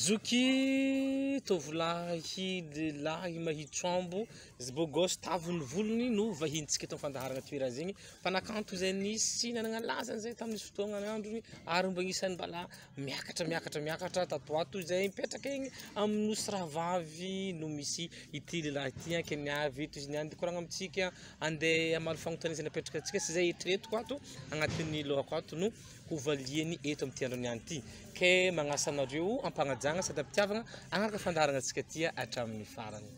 Zoky tovolahy lehilahy mahitsy ambo, beau gosse, tavy ny volony no vahinintsika eto amin'ny fandaharana Tohirazigny, mpanakanto izay nisy nanana lazany izay tamin'izy fotoagnan'androny ary mba isan'ny mbala miakatra miakatra miakatra tato ho ato izay mipetraka egny amin'ny nosy rahavavy no misy ity lehilahy ity ankeny avy eto izy niany koragna amintsika andeha hamaly fanontaniana izay napetraka antsika sy izay eritreretiko ato agnatin'ny lohako ato no hovaliany eto amin'ity andro niany ity ke magnasa anareo ampagnajagna sady ampitiavagna agnaraka fandaharana antsika tia hatramin'ny farany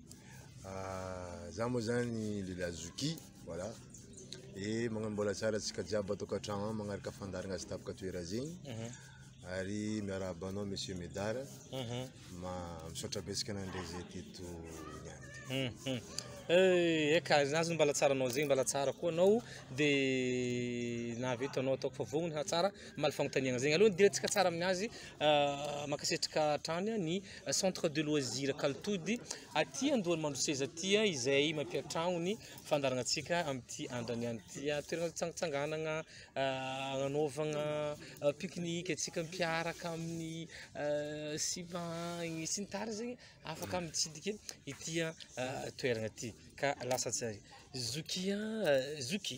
Ah, za moa zany lehilahy zoky, voilà. E magnano mbola tsara antsika jiaby ato an-katragno ao magnaraka fandaharagna azy tapaka toera zegny. Mhm. Ary miarahaba anao Monsieur Medar. Mhm. Ma misaotra betsaka nandre zay teto niany. Mhm. Eh, Eka, azony mbala tsara anao zegny, mbala tsara koa anao dia nahavita anao ataoko fa vognogno tsara mamaly fagnontaniagna zegny. Aloha ny dirantsika tsara aminazy, ah, mankasitraka hatrany ny Centre de loisir Kaltody aty Andohanimandroseza aty izay mampiantrano ny fandaharanantsika amin'ity andrany ihany ity. Toerana tsangantsanganana, anaovana pique-nique antsika mpiaraka amin'ny sipa agny sy ny tariny zegny afaka mitsidika ity toerana ity ka lasa tsy ary zokia zoky.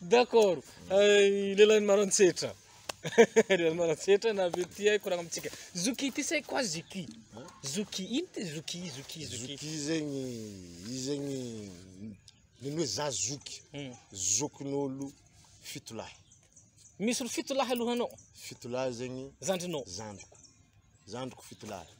D'accord. Ay, lehilahin'i Maroantsetra. Lehilahin'i Maroantsetra na avy ety hay koragna amintsika. Zoky ity say quoi zoky? Zoky ino ty zoky zoky zoky? Zoky zegny, izy zegny ny hoe za zoky. Hmm. Zokin'olo fito lahy. Misy olo fito lahy alohanao, Fito lahy zegny zandrinao. zandriko. Zandriko fito lahy.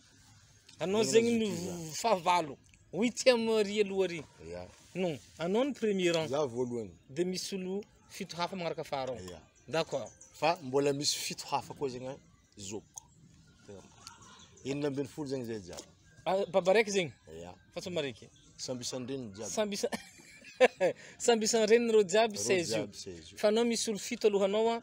Anao zegny no fahavalo. Huitième ry aloha ry. Ya. Non, anao ny premier rang. Za voalohany. Dia misy olo fito hafa magnaraka afara ao. Ya. D'accord. Fa mbola misy fito hafa koa zegny zokiko. Tena. Enina ambin'ny folo zegny zay jiaby. Ah, baba raiky zegny. Ya. Fa tsy maraiky. Samby isan-dreniny jiaby. Samby isa Samby isan-dreniny reo jiaby Reo 16 io. jiaby 16 io. Fa anao misy olo fito alohanao a.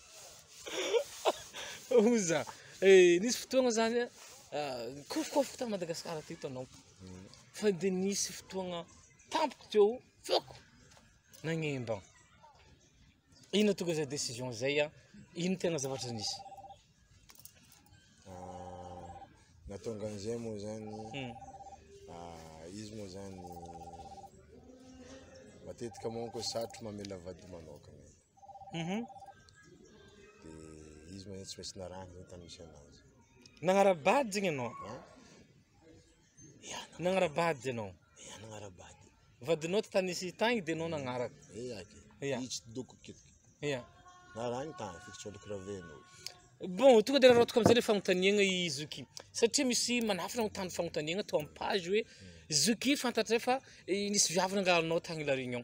Oza, eh, nisy fotoagna zany a, ah, kôfokôfoko ta Madagascar aty hitanao, fa de nisy fotoagna tampoko teo feoko nagnembagna, ino nahatonga zay décision zay an, ino tegna zavatra nisy? Nahatonga an'izay moa zany, izy moa zany matetika manko satriko mamela vady manokana. Mhm. Dia izy moa tsy maintsy narahana ny tany misy anazy. Nagnara-bady zegny ianao? Ha? Ya, Nagnara-bady ianao? ya nagnara-bady. Vadinao ty tany nisy tagny dia anao nagnaraka. Eh aky. Ya. Izy tsy doko kitiky. Ya. Narahany tany fiko tsy oloko raveno. Bon, tonga dia raraotiko amin'izay le fanontaniagna i Zoky. Satria misy manafina ho tany fanontaniagna to amin'ny page hoe Zoky fantatray fa eh, nisy viavy nangalanao tagny La Réunion.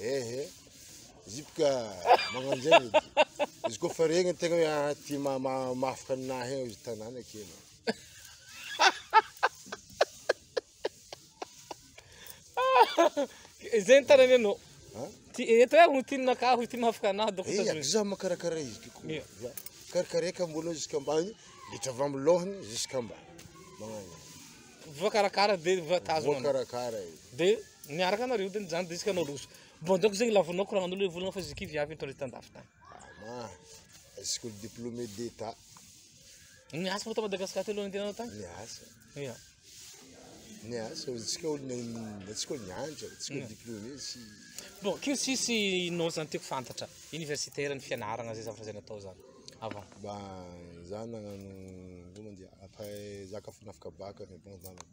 Ehe, izy boka magnano zay izy. Izy koa fa regny tegna hoe ah, ty ma- ma- mahafaka anah eo izy tanàna kely. Izay ny tanany anao. Ha? Ty eto eh, ho ty nakah, ho ty mahafaka anah doko Eh, tazony. za makarakara izy ty koa. Ia. Za karakaraika ambony ziskambany, bitra avy amin'ny lohany ziskambany. Magnano. Voakarakara dia voatazona. Voakarakara izy. Dia Miaraka anareo teny zany disque anao roso. Bonjoko zegny lavonao ko ragnanolo volagna fa izy kivy avy mitondra tandafy tany. Ama. Est-ce que le diplômé d'état Niasa moa ta Madagascar teo aloha nandehananao tany? Niasa. Ia. Niasa, antsika olo antsika nianatra, antsika olo diplômé tsy Bon, kio sisy nao zany tiako fantatra. Universitaire ny fianaragna zay zavatra zay natao zany. Avant. Ba za nagnano koa mandeha après za ka fanafika baka mais bon za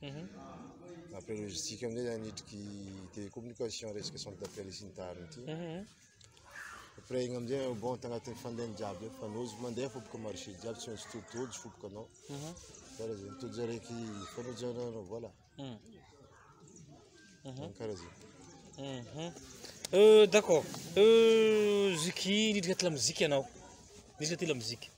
Mhm. Après logistique amin'izay zany hidriky télécommunication resaka centre d'appel sy ny tariny ity. Mhm. Après igny amin'izay au bon tagnatin'ny fandehany jiaby eo fa nozy mandeha fo boka marché jiaby tsy maintsy to- tojo fo boka anao. Mhm. Karaha zay tojo araiky fanojo anao voilà. Mm. Karaha zay. Mhm. Euh, d'accord. Euh, ziky nidrika aty lamozika ianao. Nidrika aty lamozika.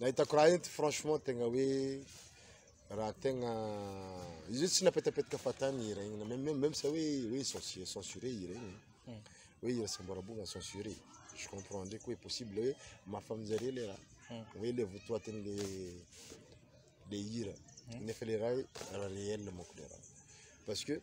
Nahitako raha ento franchement tegna hoe raha tegna izy tsy napetapetka fahatany hira igny même même sa hoe hoe censuré hira igny hmm. hoe hira samboarabogna censuré je comprends ndraiky hoe possible hoe mafa aminjareo le raha hmm. hoe le votoatiny le le hira hmm. nefa le raha raha réel manko le raha parce que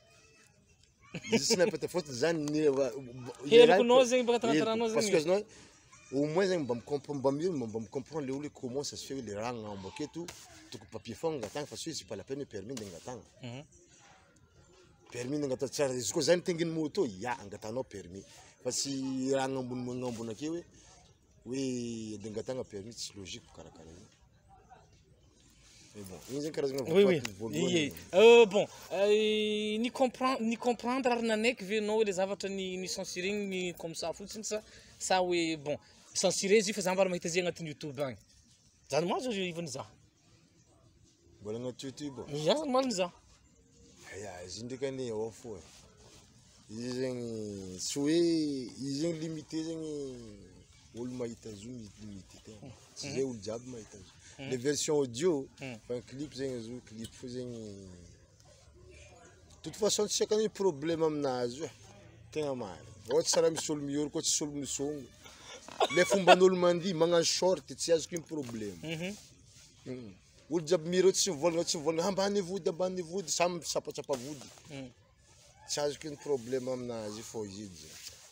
Izy tsy nampita fotony zany ny Heloko nao zegny baka tanatananao zegny. Parce que azonao au moins zegny mba mi-comprendre mba mi mba mi-comprendre le olo hoe comment ça se fait le raha agnambo aketo toko papier fogna angatahana fa tsy hoe c'est pas la peine hoe permis ndeha angatahana. Mhm. Permis ndeha angatahana tsara izy koa zany tengin'ny moto ya angatahanao permis fa tsy raha agnambony agnambony ake hoe Hoe dingatagna permis tsy logique karakara io. Mais bon, io zany karazagna Oui, oui. votoaty voalohany. Ie. Euh, bon, euh, ni comprendre ni comprendre ary nanaiky ve ianao ilay zavatra ny ny censuré ny comme ça fotsiny sa sa hoe bon censuré izy io fa za mbola mahita izy agnatin'ny YouTube agny. Zany mantsy izy io ivany za. Mbola anaty YouTube. Ny asany maliny za. Aya, izy ndraika anie ao fo e. Izy zegny tsy hoe izy zegny limité zegny olo mahita zo izy limité tegna. Tsy zay olo jiaby mahita zo. Hmm. Le version audio, hmm. fa clip zegny zo clip fo zegny toute façon tsy akany problème aminazy io tegna marina ohatra tsara misy olo mioro koa tsisy olo misongo le fomban'olo mandihy magnano short tsy azoko iny problème mhm. hmm. olo jiaby mireo tsy mivolagna tsy mivolagna ambany vody ambany vody samy misapatsapa vody hmm. tsy azoko iny problème aminazy io fô izy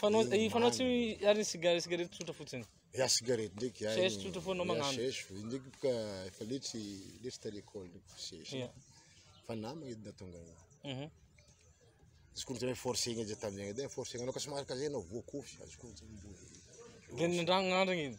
Fanao i fanao tsy ary ny cigare cigarette tsotra fotsiny. Ya cigarette ndraiky ya. Sèche tsotra foana magnano. Sèche ndraiky boka efa letsy letsy ta l'école ndraiky sèche. Ya. Fa namagna edy natonga. Mhm. Azoko ny tena forcé igny aza tamin'ny agny dia forcé anao ka somary kazay anao voakofy azoko ny tena mbola. Dia nandragna andragna iny.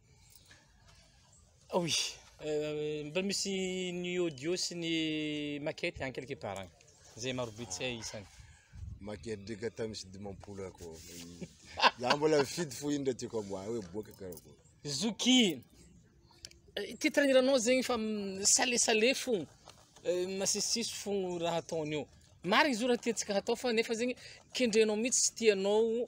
Oui, euh, mba misy ny audio sy ny maquette any quelque zay maro be tsy hay isany. Maquette ndreka tamin'ny sy dimampolo ako. Za mbola fidy fo indra tiako amboa hoe boaka karako. Zoki. Eh, titre niranao zegny fa sale sale fo. Eh, masisisy fo raha ataon'io. Marigny zo raha tiantsika hatao fa nefa zegny kendrenao mihitsy tsy tianao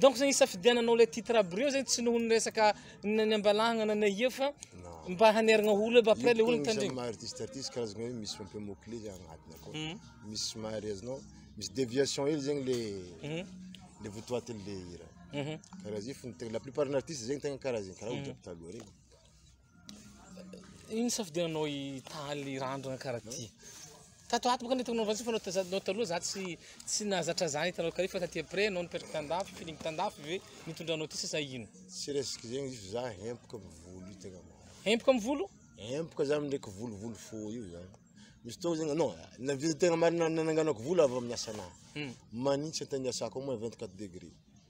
Donc zany isafidiananao le titre aby reo zany tsy noho ny resaka ny ambalahagna na ny eo fa mba haneragna olo aby après le olo mitandregny. Maha artiste artiste karazagna hoe misy un peu mot clé zay agnatiny akao. Hmm. Misy somary azonao misy déviation hely zegny le hmm. le votoatiny le hira. Hmm. Karaha zay fony tegna la plupart ny artiste zegny tegna karaha zegny karaha olo jiaby taloha regny. Ino safidiananao hitaly randrana karaha ty? Tato ato bôkany tokony novantsika fa nao tazan'ny nao taloha za tsy tsy nahazatra zany hitanao kare fa taty après nao nipetraka tan-dafy f'iny mitan-dafy ve nitondra anao ty sa zay ino? Tsy resaka zegny izy fa za hempoka am volo io tegna marigny. Hempoka am volo? Hempoka za ndraiky volovolo fohy io zany. Misy fotoagna zegny anao na vita tegna marigny na nananganako volo avy amin'ny asanà. Manintsy an-tany iasako ao moa vingt quatre degré.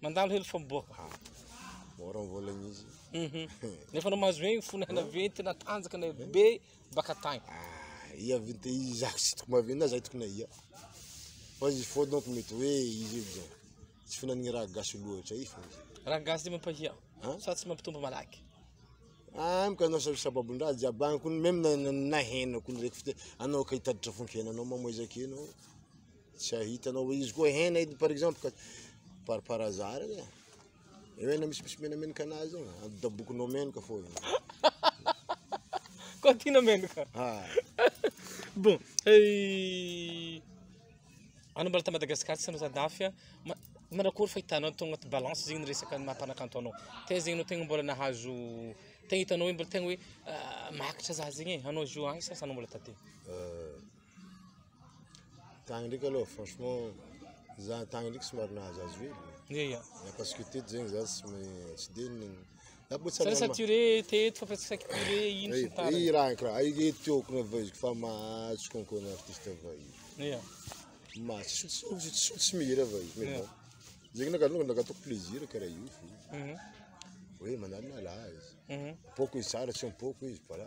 Mandalo helo famoboaka. Ah, mora ny vola mihitsy. Mhm. Nefa anao mahazo hoe fony hena venty na tanjaka na be baka tagny. Ah, ia vente izako tsy tokony mahavena zay tokony ia. Fa izy fo donc mety hoe izy io zao. Tsy finan'ny raha gasy loatra i fa. Raha gasy dia mampahia. Hein? Sa tsy mampitombo malaky. Ah, mka anao sa sababon-draha jiaby agny kony même na na- na henako ny reko fite anao ka hitatitra fonkenanao mamoezaka enao. Tsy hahitanao hoe izy koa hena edy par exemple ka par par hasard edy e. Eo hena misy misy menamenaka anazy io, adodabokinao menaka fô io. Koa tiana menaka. Ah. Bon, eh, anao mbola ta Madagascar tsy anao dafy a. Ma- Manakory fahitanao atao agnaty balance zegny ny resaka ny maha-mpanakanto anao. Taiza zegny anao tegna mbola nahazo tegna hitanao hoe mbola tegna hoe ah, mahakatra za zegny e, anao zio agny sasany mbola taty. Euh, Tagny ndraiky aloha franchement za tagny ndraiky somary nahazo azo hely. Ia ia. Ya parce que teto zegny za tsy me- tsy de nigny. Za bo tsy Sa rehefa curé teto fa presque saika curé ino sy ny tariny. Ry raha kra ai ry tiako na vahiziko fa mahazo concours na artiste vahiny. Ia. Ma tsy tsy tsy tsy tsy mihira vahiny mais Yeah. bon. Zegny na kalonga naka ataoko plaisir karaha io fo. Mhm. Hoe manala lahy. Mhm. Poko izy tsara tsy am-poko izy voilà.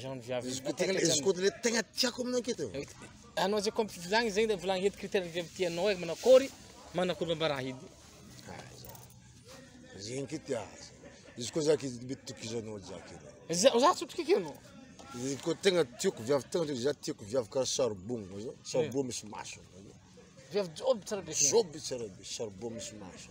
Jean viavy. Izy koa tegna izy koa le tegna tiako amin'ny enquête. Anao zay comme filagny zegny le volagny heto critère ny viavy tianao hoe manakôry manakôry bambara hedy. Zegny ky tia. Izy koa zaka izy mety tokizanao zaka. Za za tsotrikiko anao. Izy koa tegna tiako viavy tegna za tiako viavy karaha saribogno zao. Saribogno misy maso. Viavy job tsara be. Job tsara be saribogno misy maso.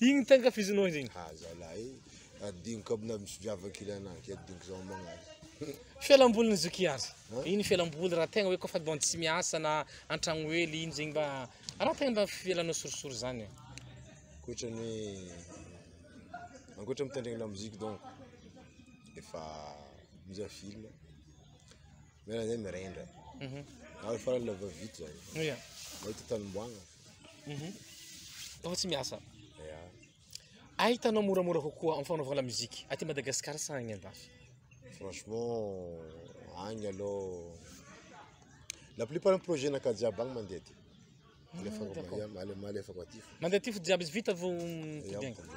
Igny te ankafizinao izy igny. Ah zalahy eh, adinoko aby na misy viavy kely anah ke adinoko zao magnano. Fialambolin'i Zokiazy. Hã? Iny fialamboly raha tegna hoe kaofa mba tsy miasa na an-tragno hely iny zegny mba raha tegna mba fialanao sorisory zany. Ankoatra ny hoe ankoatra mitendregny lamoziky donc efa mizaha film. Miala zay mirendra. Mhm. Ary farany lava vita zany. Oya. Mahita tany omboagna. Mhm. Tao tsy miasa. Ya. Ay hitanao moramora kokoa amin'ny fanaovana lamozika aty Madagasikara sa agny andafy? Franchement, agny aloha la plupart ny projet-naka jiaby agny mandeha aty. Alefako d'accord. am- ale- malefako aty fo. Mandeha aty fo jiaby izy vita vao Ya, mitombo agny. mitombo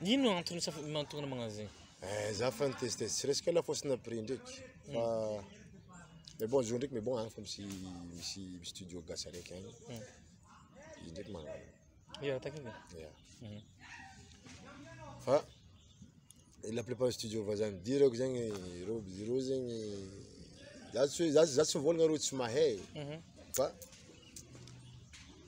agny. Ino antony saf- mahatonga anao magnano zegny? Eh, za fa niteste tsy resaka la fausse na prix ndraiky fa mais bon zo ndraiky mais bon agny fa misy misy misy studio gasy araiky agny hmm. izy ndraiky magnano ya takina ya hmm. fa la plupart studio vazany dirako zegny ireo ireo zegny za tsy za za tsy mivolagna ireo tsy mahay hmm. fa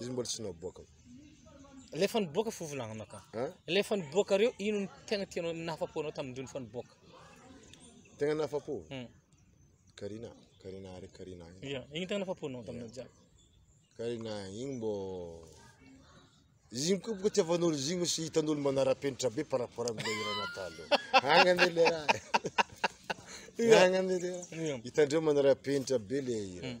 Izy mbola tsy naboaka. Ilay efa niboaka fo volagnina ka. Hein? Ilay efa niboaka reo ino ny tegna tianao nahafapo anao tamin-dreo efa niboaka? Tegna nahafapo? Hmm. Karina, Karina ary Karina. Yeah, igny tegna nahafapo anao taminao jiaby. Karina igny mbô izy igny koa boka tiavan'olo izy igny sy hitan'olo manara-penitra be par rapport amin'ilay hira natalo. Agny anie le raha. Agny anie le raha. Hitandreo manara-penitra be le hira. Hmm.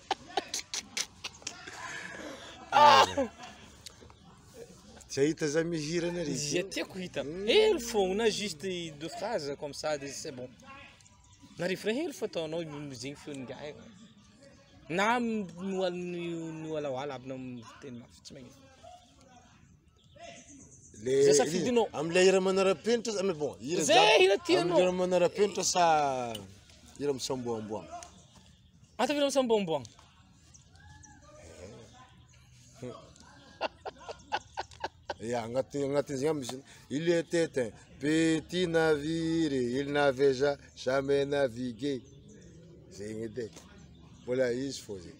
Zay hita zay mihira na ry Zay tiako hita. Helo fogna juste deux phrases comme ça de c'est bon. Na refrain helo fa ataonao mozegny feon'ny gahy. Na nohaliny nohalawala aby na teny mafy tsy magnino. Le Zay safidinao. hira- Am'ilay hira manara-penitra sa- mais bon, hira Zay jiaby. hira tianao. Amin'ny hira manara-penitra sa hira misamboamboana? Ataovy ireo samboamboagna. Ya, agnaty agnatin'izay misy il était un petit navire, il n'avait ja- jamais navigué. Zegny edy e. Mbola izy fô zegny.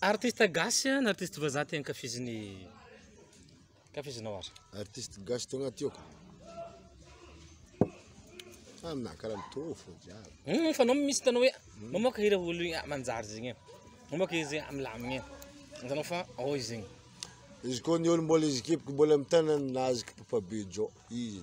Artiste gasy na artiste vazaha ty ankafizin'ny ankafizinao ary? Artiste gasy tao anaty tiako. Ah, na karaha mitovy fo jiaby. Hum, fa nao misy tanao hoe mamoaka hira olo ah, manjary zegny e. Mamoaka izy ah, milamigny e. Hitanao fa ao izy zegny. Izy koa ny olo mbola izy kipiko mbola mitana nazy kipipa be jo. Izy.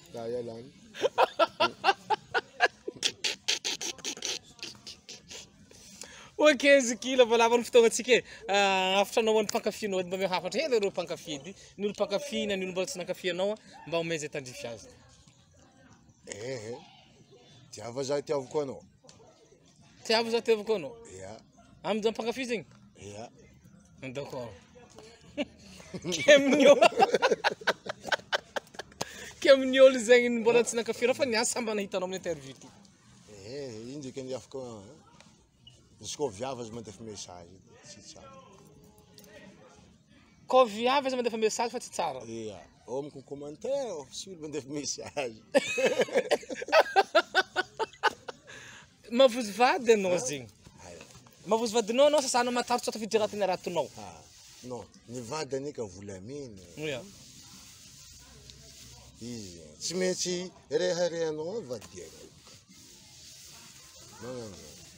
Ok Ziki, lavalava ny fotoagnantsika e. Ah, hafatra anao ho an'ny mpankafy anao, mba omeo hafatra hely ireo mpankafy edy. Ny olo mpankafy na ny olo mbola tsy nankafy anao, mba omeo izay tandrify azy. Ehe, tiava zah tiaviko anao. Tsy avy za tevako anao. Ya. Amin' zany mpankafy zegny. Ya. D'accord. Kemnio. Kemnio ol zegny mbola tsy nankafira fa niasa samba nahitanao amin'ny interview ty. Eh, ino dikany ny afaka. Izy koa viavy aza mandefa message, tsy tsara. Koa viavy aza mandefa message fa tsy tsara. Ya. Ao amiko ny commentaire ao, tsy olo mandefa message. Mavozo vady ianao zegny. Ayo. Mavozo vadinao anao sasana matarotra atao fidirana teny aratonao. Ah, non, ny vady anie ka volamena. Oya. Izy tsy maintsy reharehanao ao vadianao. Magnano.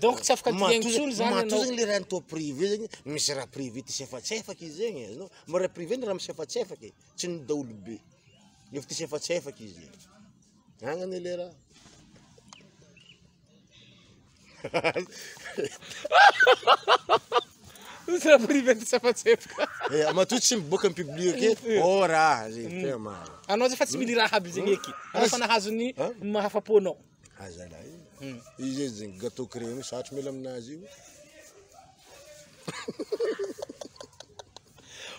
Donc tsy afaka dingana intsony zany anao. Matoa zegny le raha atao privé zegny, misy raha privé tisefatsefaka izy zegny e, ianao mba raha privé ny raha misefatsefaka e, tsy ny daholobe, nefa tisefatsefaka izy e, zany anie le raha. Misy raha privé tisefatsefaka. Eh, matoa tsy miboaka am-public e, eh. oh raha zegny, tena marina. Anao zay fa tsy mily raha aby zegny eky, anao fa nahazo ny mahafapo anao. Azalahy. Hmm. Izy izy gâteau créole satry mila aminazy io.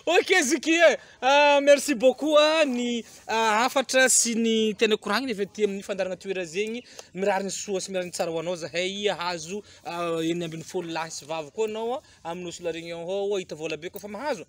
Ok Ziki, euh, ah, merci beaucoup ah, ny ah, hafatra sy ny tena koragnina avy aty amin'ny fandarana toera zegny. Mirary ny soa sy mirary ny tsara ho anao zahay hahazo ah, enina ambin'ny folo lahy sy vavy koa anao ah, amin'ny Nosy La Réunion ao, hita vola be koa fa mahazo.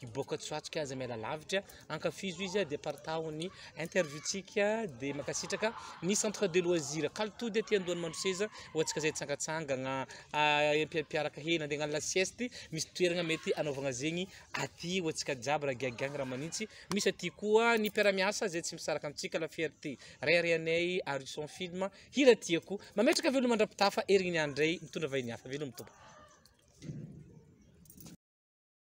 Hiboaka tsy ho atsika aza miala lavitra. Ankafizo izy dia partaho ny interview-tsika dia mankasitraka ny centre de loisir Kalitody aty andohan'ny Mandroseza ho antsika izay tsangatsangagna ah, empiampiaraka hely nandeha hagnano la sieste misy toeragna mety anaovagna zegny aty ho antsika jiaby raha giagiagna raha manintsy misy aty koa ny mpiara-miasa izay tsy misaraka amintsika la fierté raiharaianay Harrison film hira tiako mametraka veloma andra-pitafa erigny ny andray mitondra vahiny hafa veloma tompoko